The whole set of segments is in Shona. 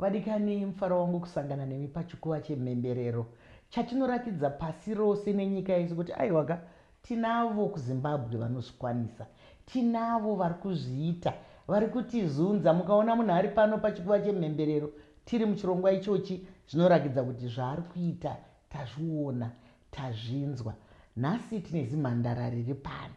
Vadikani, mufaro wangu kusangana nemi pachikuva chemhemberero chatinoratidza pasi rose nenyika yese kuti aiwaka tinavo kuZimbabwe vanozvikwanisa, tinavo vari kuzviita, vari kutizunza. Mukaona munhu ari pano pachikuva chemhemberero tiri muchirongwa ichochi zvinorakidza kuti zvaari kuita tazviona, tazvinzwa. Nhasi tine zimhandara riri pano.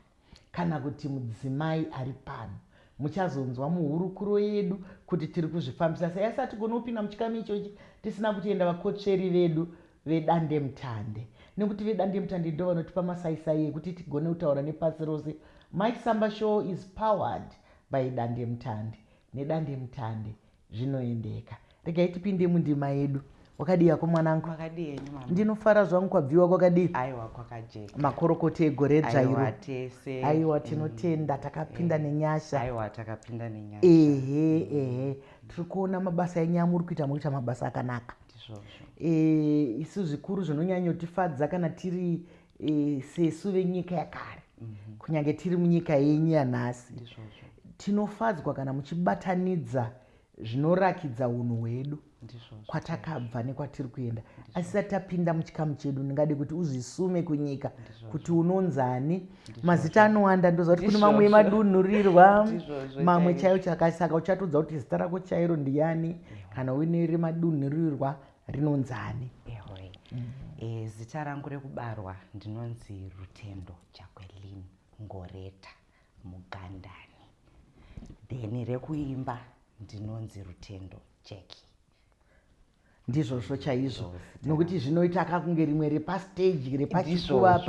kana kuti mudzimai ari pano. Muchazonzwa muhurukuro yedu kuti tiri kuzvifambisa sei. Asi hatigoni kupinda muchikamu ichochi tisina kutenda vakotsveri vedu vedandemutande nekuti vedandemutande ndivo vanotipa masaisai ekuti tigone kutaura nepasi rose. Mike Samba Show is powered by Dandemutande. Nedandemutande Zvinoendeka. Regai tipinde mundima yedu. Wakadii hako mwanangu? Makadii henyu mama? Ndinofara zvangu kwabviwa kwakadii? Aiwa kwakajeka. Makorokoti egore dzvairo. Aiwa tese. Aiwa mm. tinotenda mm. takapinda eh. nenyasha. Aiwa takapinda nenyasha. Ehe mm. ehe. Tiri kuona mabasa enyu amuri kuita muri kuita mabasa akanaka. Ndizvozvo. Eh isu zvikuru zvinonyanyotifadza kana tiri e, sesu venyika yakare mm -hmm. kunyange tiri munyika yenyu yanhasi tinofadzwa kana muchibatanidza zvinorakidza unhu hwedu kwatakabva nekwatiri kuenda asisati tapinda muchikamu chedu ndingade kuti uzvisume kunyika kuti unonzani mazita anowanda ndoziva kuti kune mamwe emadunhurirwa mamwe chaiwo chakasaka uchatodza kuti zita rako chairo ndiyani kana uine remadunhurirwa rinonzi ani ehoi mm. e, zita rangu rekubarwa ndinonzi rutendo jaquelin ngoreta mugandani then rekuimba ndinonzi rutendo jacki ndizvozvo chaizvo nokuti zvinoita kakunge rimwe repasteji repachikuva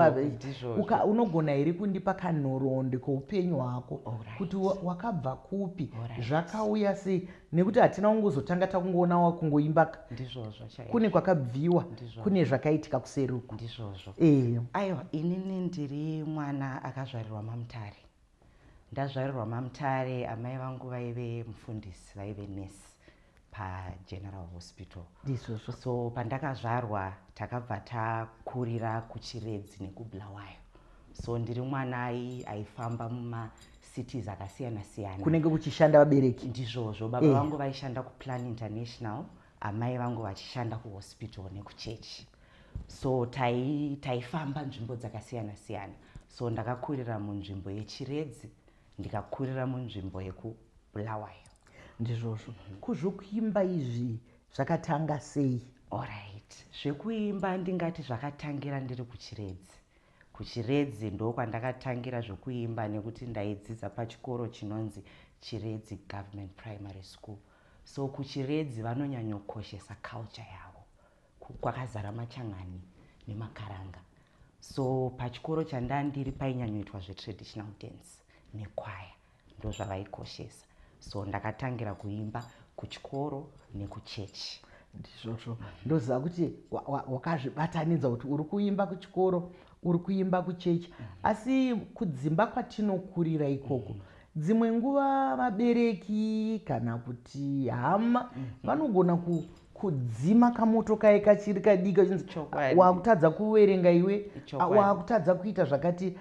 unogona here kundipa kanhoroondo kweupenyu hwako kuti wakabva kupi zvakauya sei nekuti hatina kungozotanga takungoona wakungoimbaka ndizvozvo chaizvo kune kwakabviwa Ndizvozvo. kune zvakaitika kuseri uko ndizvozvo Eh, aiwa inini ndiri mwana akazvarirwa mamutare ndazvarirwa mamutare amai vangu vaive mufundisi vaive nurse pageneral hospital ndizvozvo so pandakazvarwa takabva takurira kuchiredzi nekubulawayo so ndiri mwana ai- aifamba muma cities akasiyana siyana kunenge kuchishanda vabereki ndizvozvo baba eh. vangu vaishanda kuplan international amai vangu vachishanda kuhospital nekuchechi so taifamba tai nzvimbo dzakasiyana siyana so ndakakurira munzvimbo yechiredzi ndikakurira munzvimbo yekubulawayo ndizvozvo kuzvokuimba izvi zvakatanga sei orit zvekuimba ndingati zvakatangira ndiri kuchiredzi KuChiredzi ndokwandakatangira zvokuimba nekuti ndaidzidza pachikoro chinonzi Chiredzi Government Primary School. So kuChiredzi vanonyanyokoshesa culture yavo. Kwakazara machan'ani nemakaranga. So pachikoro chandandiri painyanyoitwa zvetraditional dance nekwaya. ndozvavaikoshesa so ndakatangira kuimba kuchikoro nekuchechi ndizvozvo ndoziva kuti wakazvibatanidza kuti uri kuimba kuchikoro uri kuimba kuchechi asi kudzimba kwatinokurira ikoko mm -hmm dzimwe nguva vabereki kana kuti hama mm. vanogona kudzima kamoto kaye kachiri kadiki achinzi wakutadza kuverenga iwe wakutadza kuita zvakati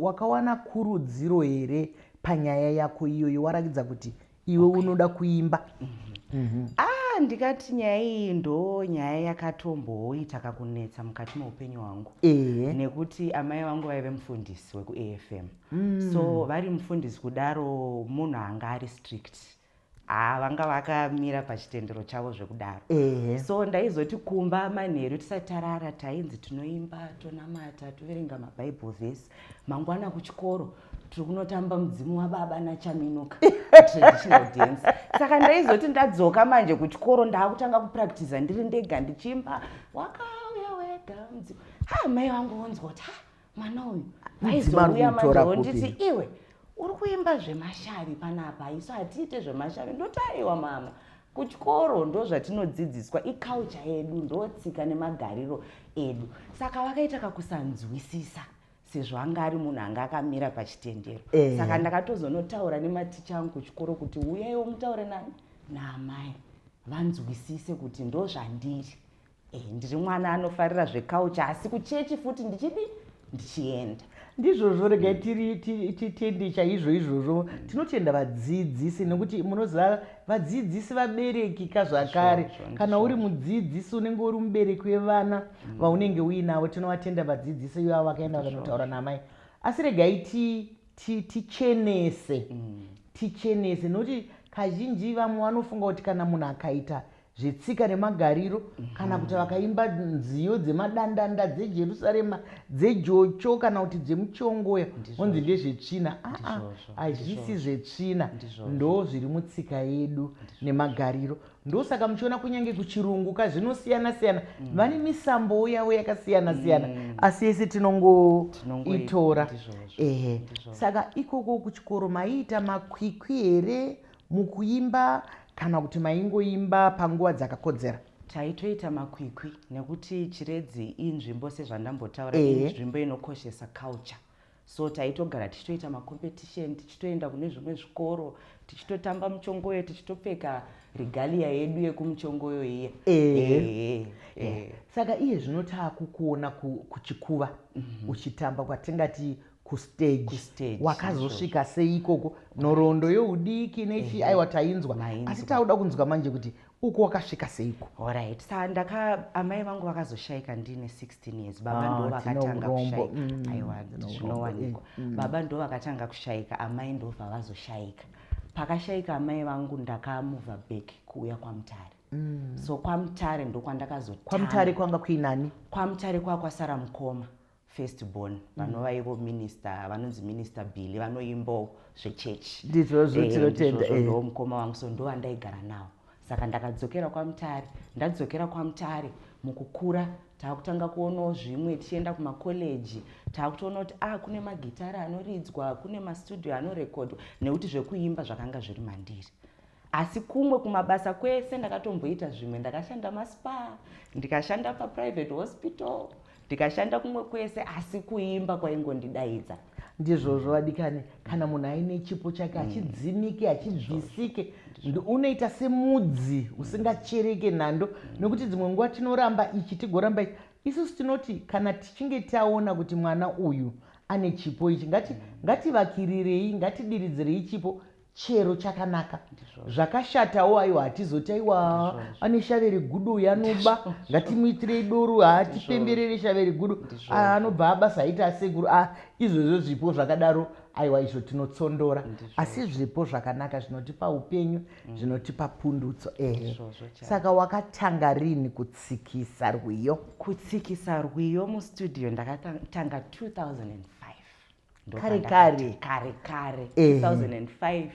wakawana kurudziro here panyaya yako iyoyo warakidza kuti iwe okay. unoda kuimba mm -hmm. Mm -hmm. ah ndikati nyaya iyi ndo nyaya yakatomboita kakunetsa mukati meupenyu hwangu e -e. nekuti amai vangu vaive mufundisi wekuafm mm. so vari mufundisi kudaro munhu anga ari strict haa vanga vakamira pachitendero chavo zvekudaro Ehe. so ndaizoti kumba manheru tisati tarara tainzi tinoimba tonamata toverenga mabible verse mangwana kuchikoro tiri kunotamba mudzimu wababa nachaminuka traditional dance saka ndaizoti ndadzoka manje kuchikoro ndaakutanga kupractiza ndiri ndega ndichiimba wakauya wega mudzimu ha mai vangu vonzwa kuti ha mwana uyu aizouya mandionditi iwe uri kuimba zvemashavi panapa isu hatiite zvemashavi ndotaiwa mama kuchikoro ndo zvatinodzidziswa iculture yedu ndotsika nemagariro edu saka vakaita kakusanzwisisa sezvo anga ari munhu anga akamira pachitendero eh. saka ndakatozonotaura nematicha angu kuchikoro kuti uyaiwo mutaure nani naamai vanzwisise kuti ndozvandiri Eh, ndiri mwana anofarira zvekaucha asi kuchechi futi ndichidi ndichienda ndizvozvo regai mm. tiri titende chaizvo izvozvo tinotenda vadzidzisi nekuti munoziva vadzidzisi vabereki ka zvakare kana uri mudzidzisi unenge uri mubereki wevana mm. vaunenge uinavo tinovatenda vadzidzisi ivavo vakaenda vakanotaura namai asi regai tichenese mm. tichenese nekuti kazhinji vamwe vanofunga kuti kana munhu akaita zvetsika nemagariro kana kuti vakaimba nziyo dzemadandanda dzejerusarema dzejocho kana kuti dzemuchongoya onzi ndezvetsvina aa hazvisi zvetsvina ndo zviri mutsika yedu nemagariro ndosaka muchiona kunyange kuchirungu ka zvinosiyana siyana mm. vane misambowo yavo yakasiyana siyana mm. asi yese tinongoitora ehe saka ikoko kuchikoro maiita makwikwi here Mukuimba kana kuti maingoimba panguva dzakakodzera? Taitoita makwikwi nekuti Chiredzi inzvimbo sezvandambotaura Ehe. inzvimbo inokoshesa culture. So taitogara tichitoita macompetition, tichitoenda kune zvimwe zvikoro, tichitotamba muchongoyo, tichitopfeka regalia yedu yekumuchongoyo iye. Ehe. Ehe. Ehe. Saka iye zvino taakukuona ku- kuchikuva uchitamba kwatingati kustage Kustage, wakazosvika sei ikoko nhoroondo youdiki nechii aiwa tainzwa Mainzwa. asi tauda kunzwa manje kuti uko wakasvika seiko Alright. Sa ndaka amai vangu vakazoshaika ndine 16 years. Baba Ah, ndo tino vakatanga urombo. kushaika. Mm, Aiwa tino urombo. zvinowanikwa. Baba ndo vakatanga kushaika, amai ndo vavazoshaika. Pakashaika amai vangu ndakamuva back kuuya kwaMutare. So kwaMutare ndo kwandakazotanga. kwamutare kwanga kuinani kwamutare kwakwasara mukoma first born mm. vanova ivo minister vanonzi minister billy vanoimbawo zvechechi ndizvozvo eh, tinotenda eh. ndo mukoma wangu so ndo vandaigara nawo saka ndakadzokera kwamutare ndadzokera kwamutare mukukura taakutanga kuonawo zvimwe tichienda kumakoleji taakutoona kuti ah kune magitari anoridzwa kune mastudio anorekodwa nekuti zvekuimba zvakanga zviri mandiri asi kumwe kumabasa kwese ndakatomboita zvimwe ndakashanda maspa ndikashanda paprivate hospital ndikashanda kumwe kwese asi kuimba kwaingondidaidza ndizvozvo vadikani kana munhu aine chipo chake mm. hachidzimike hachibvisike unoita semudzi usingachereke nhando mm. nokuti dzimwe nguva tinoramba ichi tigoramba ichi isusu tinoti kana tichinge taona kuti mwana uyu ane chipo ichi mm. ngativakirirei ngatidiridzirei chipo chero chakanaka zvakashatawo aiwa hatizoti aiwa ane shave regudo uyo anoba ngatimuitirei doro hatipemberere shave regudo ah, anobva abasa haiti asekuru ah, izvozvo zvipo zvakadaro aiwa izvo tinotsondora asi zvipo zvakanaka zvinotipa upenyu mm. zvinotipa pundutso ehe saka wakatanga rini kutsikisa rwiyo kutsikisa rwiyo mustudio ndakatanga 2005 kare kare kare kare 2005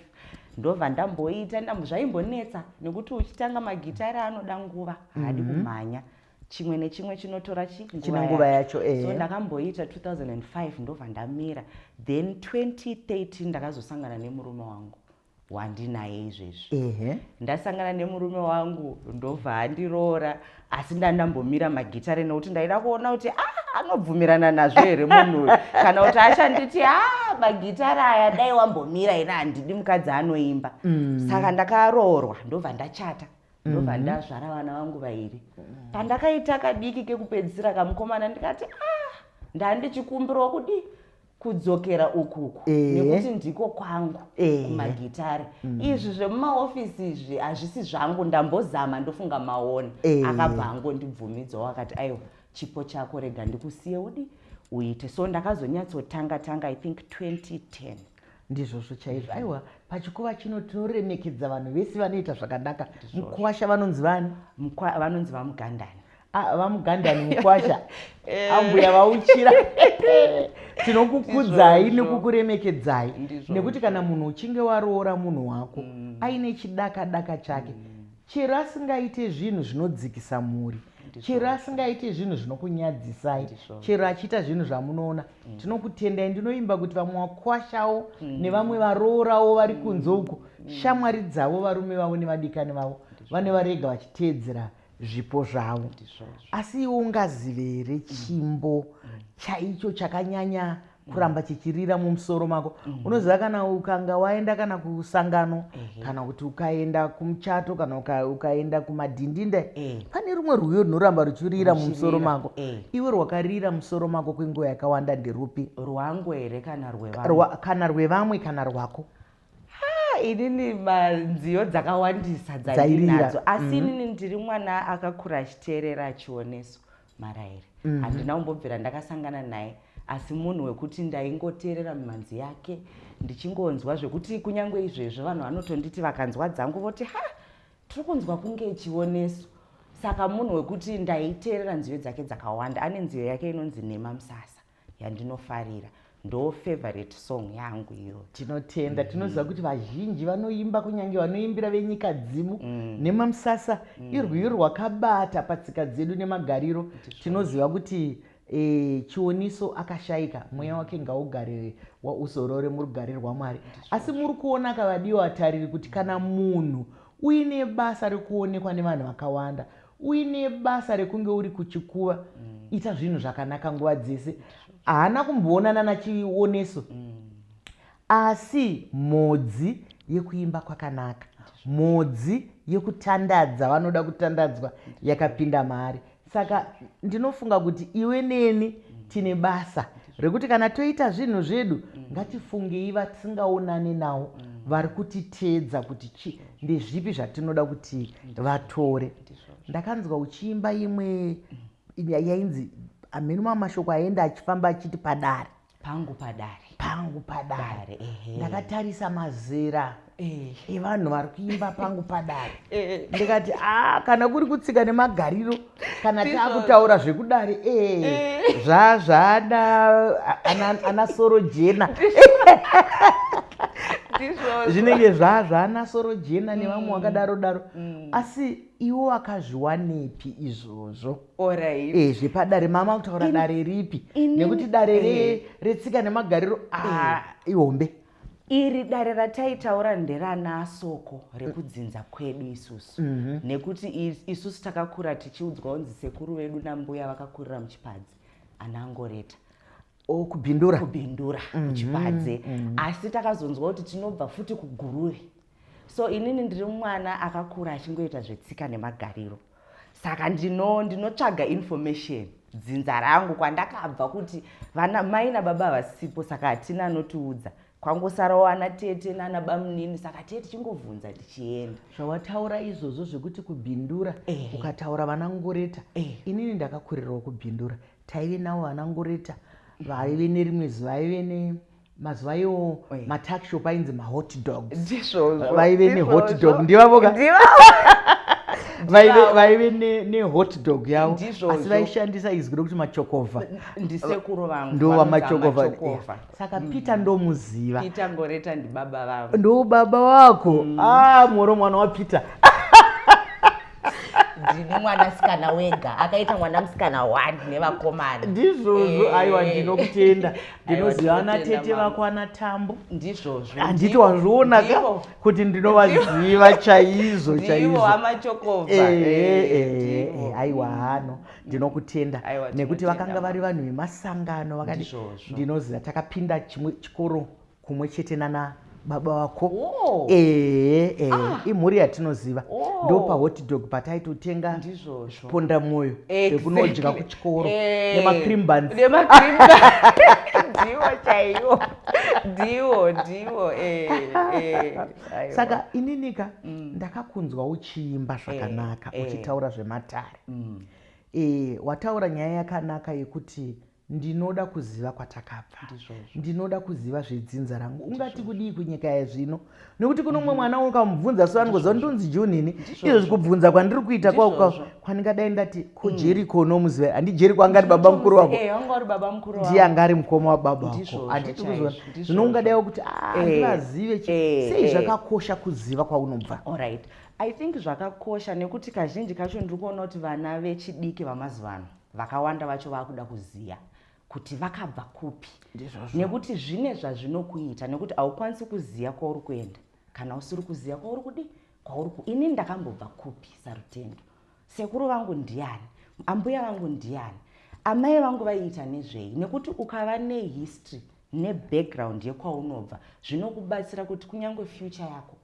ndobva ndamboita zvaimbonetsa nekuti uchitanga magitari anoda nguva haadi mhm. kumhanya chimwe nechimwe chinotora chinenguva yacho eh. so ndakamboita 2005 ndobva ndamira then 2013 ndakazosangana nemurume wangu wandinaye izvezvi ehe ndasangana nemurume wangu ndobva andiroora asi ndandambomira magitare nekuti ndaida kuona kuti ah anobvumirana nazvo here munhu uyu kana kuti achanditi a ah, magitare aya dai wambomira ina handidi mukadzi anoimba mm. saka ndakaroorwa ndobva ndachata ndobva mm-hmm. ndazvara vana vangu vairi pandakaita kadiki kekupedzisira kamukomana ndikati a ah, ndandichikumbirwa kudii kudzokera ukuku nekuti ndiko kwangu kumagitare mm. izvi zvemumaofisi izvi hazvisi zvangu ndambozama ndofunga maona akabva angondibvumidzwa wakati aiwa chipo chako rega ndikusiye udi uite so ndakazonyatsotanga tanga i think 2010 ndizvozvo chaizvo aiwa pachikuva chino tinoremekedza vanhu vese vanoita zvakanaka mukwasha vanonzi vani vanonzi vamugandani Ah, vamugandani mukwasha eh. ambuya vauchira tinokukudzai nekukuremekedzai nekuti kana munhu uchinge waroora munhu wako mm. aine chidaka daka chake mm. chero asingaite zvinhu zvinodzikisa mhuri chero asingaite zvinhu zvinokunyadzisai chero achiita zvinhu zvamunoona mm. tinokutendai ndinoimba kuti vamwe wakwashawo nevamwe varoorawo vari kunze uko shamwari dzavo varume vavo nevadikani vavo vane varega vachiteedzera mm. zvipo zvavo asi iwe ungazive here chimbo chaicho chakanyanya kuramba chichirira mumusoro mako unoziva kana ukanga waenda kana kusangano kana kuti ukaenda kumuchato kana ukaenda kumadhindinda pane rumwe rwiyo runoramba ruchirira mumusoro mako iwe rwakarira musoro mako kwenguva yakawanda nderupi rwangu here kana rwevamwe kana rwako Ah, inini nziyo dzakawandisa dzandinadzo asi mm-hmm. inini ndiri mwana akakura achiteerera achioneso maraire mm-hmm. handina kumbobvira ndakasangana naye asi munhu wekuti ndaingoteerera mimhanzi yake ndichingonzwa zvekuti kunyange izvezvo vanhu vanotonditi vakanzwa dzangu voti ha tiri kunzwa kunge ichioneso saka munhu wekuti ndaiteerera nziyo dzake dzakawanda ane nziyo yake inonzi nhema musasa yandinofarira ndo favorite song yangu iyoyo tinotenda mm. tinoziva kuti vazhinji vanoimba kunyange vanoimbira venyika dzimu mm. nemamusasa mm. irwiyo rwakabata patsika dzedu nemagariro tinoziva kuti e, chioniso akashaika mweya wake ngaugare uzorore murugare rwamwari asi muri kuona akavadiwa atariri kuti kana munhu uine basa rekuonekwa nevanhu vakawanda uine basa rekunge uri kuchikuva ita zvinhu zvakanaka nguva dzese haana kumboonana nachioneso asi mhodzi yekuimba kwakanaka mhodzi yekutandadza vanoda kutandadzwa yakapinda maari saka ndinofunga kuti iwe neni tine basa rekuti kana toita zvinhu zvedu ngatifungei vatisingaonane nawo vari kutiteedza kuti chi ndezvipi zvatinoda kuti vatore ndakanzwa uchiimba imwe yainzi amheni mamwe mashoko aenda achifamba achiti padare pangu padare pangu padare Dare, ehe. ndakatarisa mazera yevanhu eh. vari kuimba pangu padare eh. ndikati a kana kuri kutsika nemagariro kana taakutaura zvekudare e eh. zvazvada ana soro jena zvinenge zvazvana soro jena nevamwe mm. wakadaro daro mm. asi iwo wakazviwanepi izvozvo e zvepadare mama kutaura dare ripi nekuti dare retsika nemagariro ah, ihombe iri dare rataitaura nderana soko rekudzinza kwedu isusu mm -hmm. nekuti isusu takakura tichiudzwa kunzi sekuru vedu nambuya vakakurira muchipadzi anangoreta oh, kubindura kubindura mm -hmm. muchipadze mm -hmm. asi takazonzwa kuti tinobva futi kuguruve So inini ndiri mwana akakura achingoita zvetsika nemagariro. Saka ndino ndinotsvaga information dzinza rangu kwandakabva kuti vana mai nababa havasipo saka hatina anotiudza kwangosarawo ana tete nana bamunini saka tiye tichingovhunza tichienda zvawataura izvozvo zvekuti kubindura Ehe. ukataura vana ngoreta Ehe. inini ndakakurirawo kubindura taive nawo vana ngoreta vaive nerimwe zuva vaive ne mazuva iwo matuckshop ainzi mahot dogs vaive nehot dog ndivavoka vaive nehot dog yavo asi vaishandisa izwi rokuti machokova ndisekuru vangu ndova machokova saka mm. peter ndomuziva peter ngoreta ndibaba vavo ndo baba wako mm. ah moro mwana wapeter ndine mwana sikana wega akaita mwana musikana one nevakomana ndizvozvo eh. aiwa ndinokutenda ndinoziva ana tete vako ana tambo ndizvozvo handiti wazviona ka kuti ndinovaziva chaizvo chaizvoaiwa hano ndinokutenda nekuti vakanga vari vanhu vemasangano vakati ndinoziva takapinda chimwe chikoro kumwe chete nana baba wako oh. ee ee ah. imhuri yatinoziva oh. ndo pahotdog pataitotenga ponda mwoyo ekunodya exactly. kuchikoro eh. nemacream buns ndiwo chaiwo ndiwo ndiwo eh, eh, saka ininika mm. ndakakunzwa uchiimba eh, zvakanaka uchitaura zvematare mm. wataura nyaya yakanaka yekuti ndinoda kuziva kwatakabva ndinoda kuziva zvedzinza rangu ungati kudii kunyika yezvino nekuti kuno mumwe mhm. mwana ukamubvunza so anongoziva ndonzi junini izvozvi kubvunza kwandiri kuita kwauka kwandingadai ndati kojeriko mm. unomuziva handijeriko angari baba mukuru wako eh, ndiye anga ari mukoma wababa wako handiti kuziva zvino ungadai wokuti ah, eh, andivazive eh, sei zvakakosha kuziva kwaunobva i think zvakakosha nekuti kazhinji kacho ndiri kuona kuti vana vechidiki vamazuva ano vakawanda vacho vakuda kuziva kuti vakabva kupi nekuti zvine zvazvinokuita nekuti haukwanisi kuziva kwauri kuenda kana usiri kuziva kwauri kudi kwauri ku ini ndakambobva kupi sarutendo sekuru vangu ndiani ambuya vangu ndiani amai vangu vaiita nezvei nekuti ukava nehistory nebackground yekwaunobva zvinokubatsira kuti kunyange future yako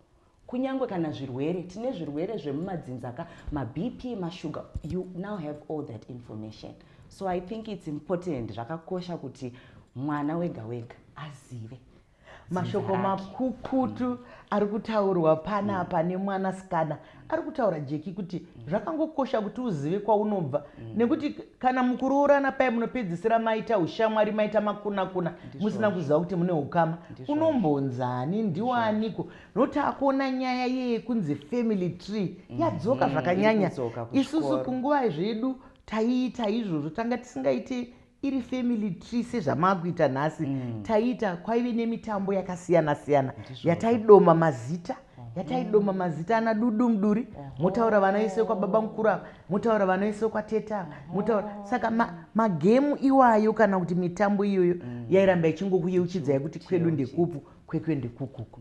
Kunyangwe kana zvirwere, tine zvirwere zvemumadzinza ka, maBP, mashuga, you now have all that information. So I think it's important, zvakakosha kuti mwana wega wega azive. mashoko makukutu mm. ari kutaurwa panapa mm. nemwana sikana ari kutaura jeki kuti mm. zvakangokosha kuti uzive kwaunobva mm. nekuti kana mukuroorana paye munopedzisira maita ushamwari maita makunakuna musina kuziva kuti mune ukama unombonzani ndiwaniko no takuona nyaya yeye kunzi family tree mm-hmm. yadzoka zvakanyanya isusu kunguva zvedu taiita izvozvo tanga tisingaite iri family tree sezvamakuita nhasi mm. taiita kwaive nemitambo yakasiyana siyana yataidoma mazita mm. yataidoma mazita ana dudu muduri motaura vana vese kwababa mukuru ava motaura vana vese kwateta motaura saka magemu iwayo kana kuti mitambo iyoyo mm. yairamba ichingokuyeuchidzai kuti kwedu ndekupu kwekwe ndekukuku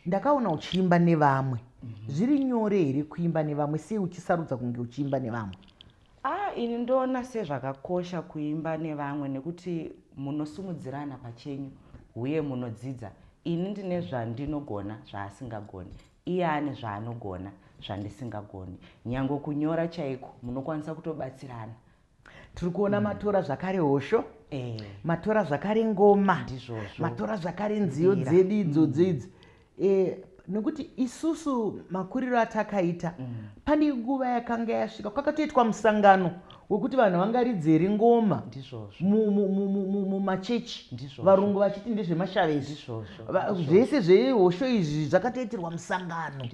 ndakaona uchiimba nevamwe mhm. zviri nyore here kuimba nevamwe sei uchisarudza kunge uchiimba nevamwe ah ini ndoona sezvakakosha kuimba nevamwe nekuti munosumudzirana pachenyu uye munodzidza ini ndine zvandinogona zvaasingagoni iye ane zvaanogona zvandisingagoni nyange kunyora chaiko munokwanisa kutobatsirana tiri kuona mm. matora zvakare hosho eh. matora zvakare ngoma ndizvozvo matora zvakare nziyo dzedu idzo mm. dzeidzi eh, nekuti isusu makuriro atakaita mm. pane nguva yakanga yasvika kwakatoitwa musangano wekuti vanhu vangaridzeri ngoma mumachechi varungu vachiti ndezvemashavezi zvese zvehosho izvi zvakatoitirwa musangano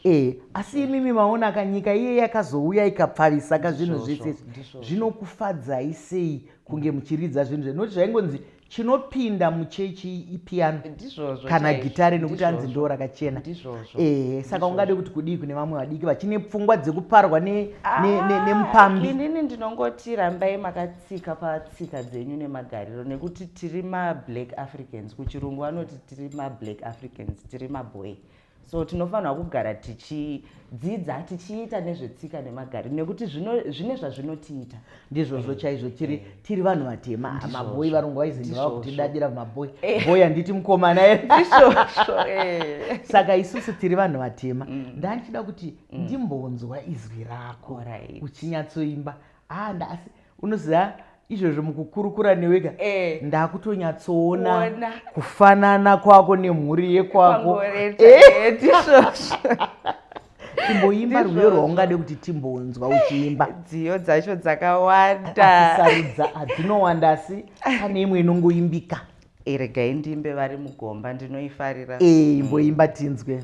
e asi imimi maona ka nyika iye yakazouya ikapfavisa ka zvinhu zvese zvinokufadzai sei kunge muchiridza zvinhu zve nokuti zvaingonzi chinopinda muchechi ipiano kana gitare nekuti anzi ndo rakachena ehe saka ungade kuti kudii kune vamwe vadiki vachine pfungwa dzekuparwa ah, nemupambi inini ndinongoti rambai maka tsika patsika dzenyu nemagariro nekuti tiri mablack africans kuchirungu vanoti tiri mablack africans tiri maboy so tinofanirwa kugara tichidzidza tichiita nezvetsika nemagariro nekuti zvine zvazvinotiita ndizvozvo chaizvo tiri eh. tiri vanhu vatema maboi varungu vaiziva kutidadira maboi eh. boi handiti mukomana eh. saka isusu tiri vanhu vatema mm. ndandichida kuti mm. ndimbonzwa izwi rako uchinyatsoimba haa nda asi unoziva izvozvo mukukurukura newega eh. ndakutonyatsoona kufanana kwako nemhuri yekwako timboimba eh. rwiyo rwaungade kuti timbonzwa uchiimba dziyo dzacho dzakawandaarudza hadzinowanda asi pane imwe inongoimbika eh, regai ndiimbe vari mugomba ndinoifarira imboimba tinzwe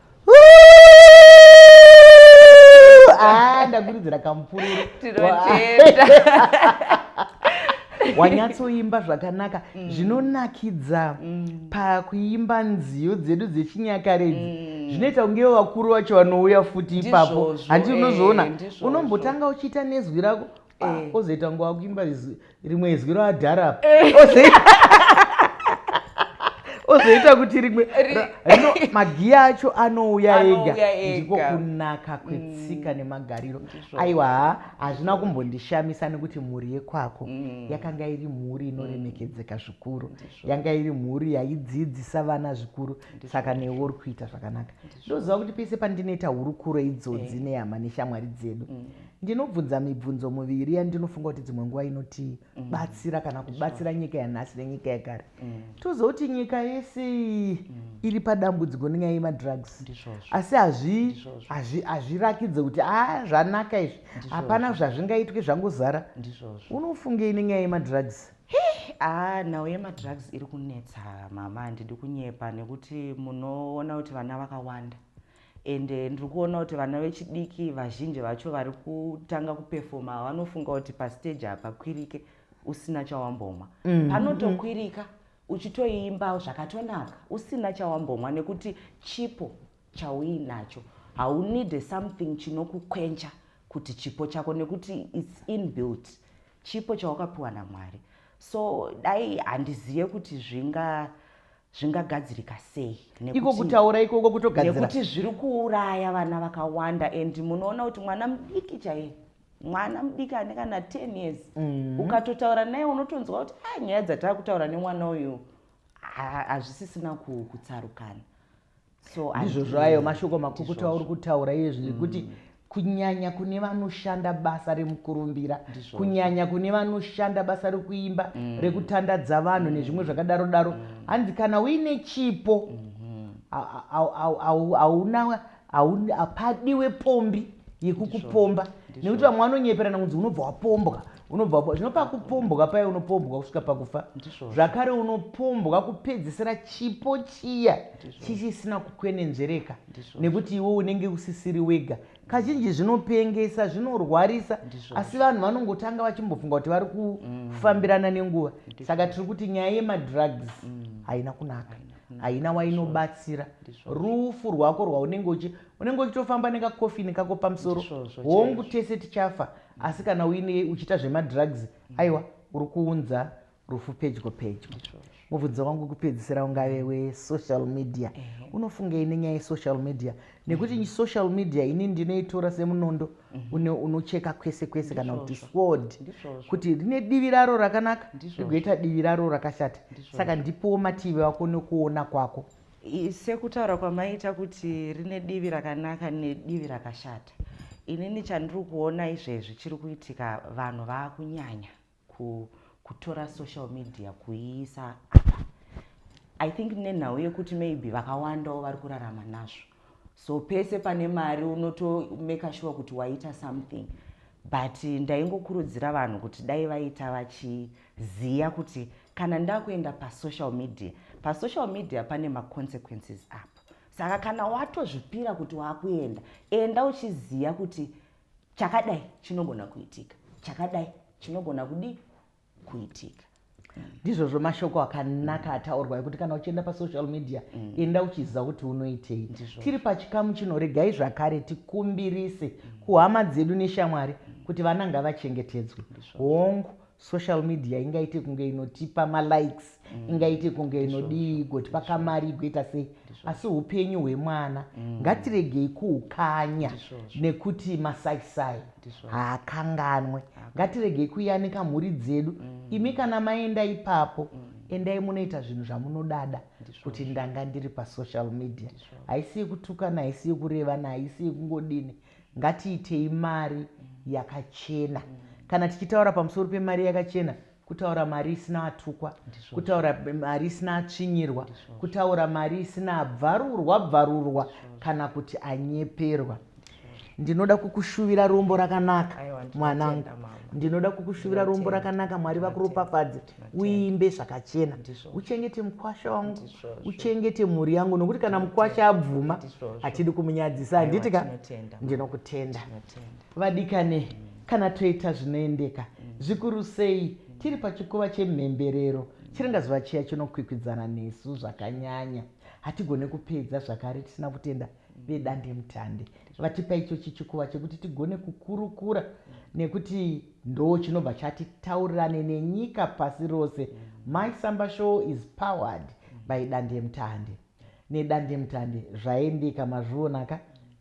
Ah, ndakuridzira kamupururu tinotenda wanyatsoimba zvakanaka mm. zvinonakidza mm. pakuimba nziyo dzedu dzechinyakare idzi mm. zvinoita kunge vakuru vacho vanouya futi ipapo handi unozoona eh, unombotanga uchiita nezwi rako Eh. ozoita ngo akuimba rimwe izwi roadhara apa eh. ozoita kuti rimwe rino magiya acho anouya ega ndiko kunaka kwetsika mm. nemagariro aiwa hazvina kumbondishamisa nekuti mhuri yekwako mm. yakanga iri mhuri inoremekedzeka mm. zvikuru yanga iri mhuri yaidzidzisa vana zvikuru saka newe uri kuita zvakanaka ndoziva kuti pese pandinoita hurukuro idzodzi eh. nehama neshamwari dzedu Ndinobvunza mibvunzo muviri yandinofunga kuti dzimwe nguva inotibatsira mm. kana kubatsira sure. nyika yanhasi nenyika yekare mm. toziva kuti nyika yese mm. iri padambudziko nenyaya yemadrugs asi hazvirakidze kuti a ah, zvanaka izvi hapana zvazvingaitwe zvangozara unofungei nenyaya yemadrugs aa ah, nhau yemadrugs iri kunetsa mama handidi kunyepa nekuti munoona kuti vana vakawanda and ndiri kuona kuti vana vechidiki vazhinji vacho vari kutanga kupefoma vanofunga kuti pasteji hapakwirike usina chawambomwa mm. panotokwirika uchitoimba zvakatonaka usina chawambomwa nekuti chipo chauinacho haunide something chinokukwencha kuti chipo chako nekuti its inbuilt chipo chawakapiwa namwari so dai handizive kuti zvinga zvingagadzirika sei iko kutaura ikoko kutogadzirnekuti zviri kuuraya vana vakawanda and munoona kuti mwana mudiki chaiye mwana mudiki ane kana 10 years mm. ukatotaura naye unotonzwa kuti a ah, nyaya dzataa kutaura nemwana uyu hazvisisina kutsarukana so ndizvo zvayo mashoko makukutu auri kutaura iye zvinhu kuti mm. kunyanya kune vanoshanda basa remukurumbira kunyanya kune vanoshanda basa rekuimba mm. rekutandadza vanhu mm. nezvimwe zvakadaro daro mm. hanzi mm. kana uine chipo mm-hmm. hauna hapadiwe pombi yekukupomba nekuti vamwe vanonyeperana kunzi unobva wapombwa unobvapo zvino pakupombwa paye unopombwa kusvika pakufa zvakare unopombwa kupedzisira chipo chiya chichisina kukwenenzvereka nekuti iwe unenge usisiri wega kazhinji zvinopengesa zvinorwarisa asi vanhu vanongotanga vachimbofunga kuti vari kufambirana mm. nenguva saka tiri kuti nyaya yemadrugs mm. haina kunaka haina wainobatsira rufu rwako rwaunenge uchi unenge uchitofamba nekakofini kako pamusoro hongu tese tichafa asi kana uine uchiita zvemadrugs aiwa uri kuunza rufu pedyo pedyo mubvunzo wangu kupedzisira ungave wesocial media unofungei nenyaya yesocial media nekuti mm. social media ini ndinoitora semunondo mm-hmm. unocheka kwese kwese kana kuti sword kuti rine divi raro rakanaka rigoita divi raro rakashata saka ndipowo mativi ako nekuona kwako Sekutaura kwamaita kuti rine divi rakanaka nedivi rakashata, inini chandiri kuona izvezvi chiri kuitika vanhu vakunyanya ku, kutora social media kuiisa apa i think nenhau yekuti maybe vakawandawo vari kurarama nazvo so pese pane mari unotomeka shuwa kuti waita something but ndaingokurudzira vanhu kuti dai vaita vachi Ziya kuti kana ndakuenda pasocial media, pasocial media pane maconsequences apo. Saka kana watozvipira kuti wakuenda, enda uchiziya kuti chakadai chinogona kuitika, chakadai chinogona kudii kuitika ndizvozvo mashoko akanaka ataurwa ekuti kana uchienda pasocial media mm. enda uchiziva kuti unoitei tiri pachikamu chino regai zvakare tikumbirise mm. kuhama dzedu neshamwari mm. kuti vana ngavachengetedzwe hongu Social media ingaite kunge inotipa ma likes mm. ingaite kunge inodii igotipa kamari igoita sei asi upenyu hwemwana mm. ngatiregei kuukanya nekuti masaisai haakanganwe ngatiregei kuyanika mhuri dzedu mm. imi kana maenda ipapo mm endai munoita zvinhu zvamunodada kuti ndanga ndiri pasocial media haisi yekutukana haisi yekurevana haisi yekungodini Ngatiitei mari yakachena. Kana tichitaura pamusoro pemari yakachena, kutaura mari isina atukwa, kutaura mari isina atsvinyirwa, kutaura mari isina abvarurwa bvarurwa kana kuti anyeperwa. Ndinoda kukushuvira rombo rakanaka mwanangu. Ndinoda kukushuvira rombo rakanaka Mwari vakuropafadze. uimbe zvakachena uchengete mukwasha wangu uchengete mhuri yangu nokuti kana mukwasha abvuma hatidi kumunyadzisa handiti ka ndinokutenda vadikane mm. kana toita zvinoendeka mm. zvikuru sei mm. tiri pachikuva chemhemberero chiringazuva chiya chinokwikwidzana nesu zvakanyanya hatigone kupedza zvakare tisina kutenda vedandemutande vatipa ichochi chikuva chekuti tigone kukurukura nekuti Ndoo chinobva chati taurirane nenyika pasi rose my samba show is powered by dandemtande nedandemtande zvaendeka mazviona ka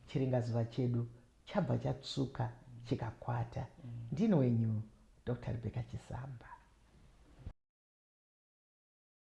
chiringazuva chedu chabva chatsvuka chikakwata ndini wenyu Doctor Rebecca Chisamba.